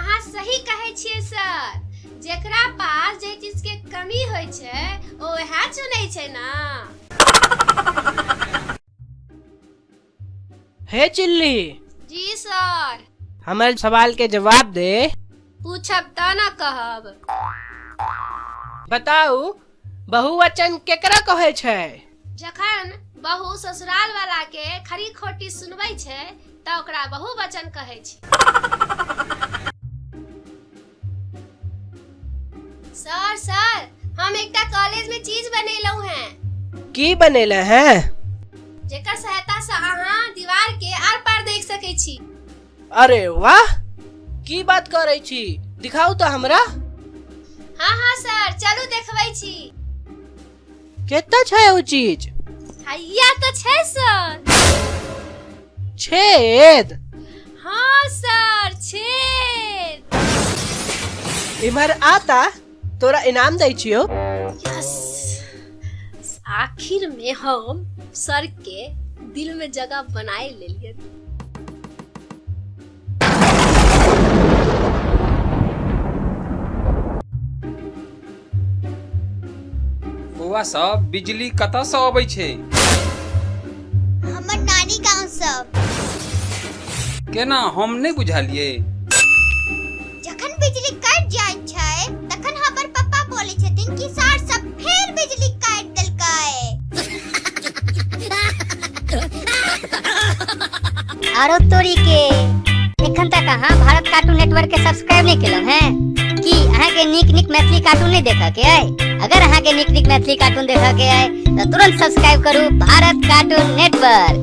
अहाँ सही कहै छियै सर जेकरा पास जे चीज के कमी होइ छै ओ वएह चुनै छै ना हे चिल्ली जी सर हमर सवाल के जवाब दे पूछब त ना कहब बताऊ बहुवचन केकरा कहै छै जखन बहू ससुराल वाला के खरी खोटी सुनबै छै तऽ ओकरा बहुवचन कहै छै सर सर हम एकटा कॉलेज में चीज बनेलहुं हैं की बनेले हैं जेकर सहायता से अहाँ दीवार के आर पार देख सकै छी अरे वाह की बात करै छी दिखाउ तऽ हमरा हाँ हाँ सर चलू देखबै छी केतऽ छै ओ चीज हैया तऽ छै सर छेद हाँ सर छेद इम्हर आता तोरा इनाम दै छियो यस आखिर में हम सर के दिल में जगह बनाए ले लिए बौआ सब बिजली कतऽ से अबै छै हमर नानी गांव सब केना हम नहि बुझलियै जखन बिजली कट जाय छै तखन हमर पापा बोले छथिन कि सार सब फेर बिजली काट देलकै आरो तोरी के एखन तक अहाँ भारत कार्टून नेटवर्क के सब्सक्राइब नहीं केलहुँ हैं की अहाँ के नीक नीक मैथिली कार्टून नहीं देखऽ के अइ अगर अहाँ के नीक नीक मैथिली कार्टून देखऽ के अइ तऽ तुरंत सब्सक्राइब करू भारत कार्टून नेटवर्क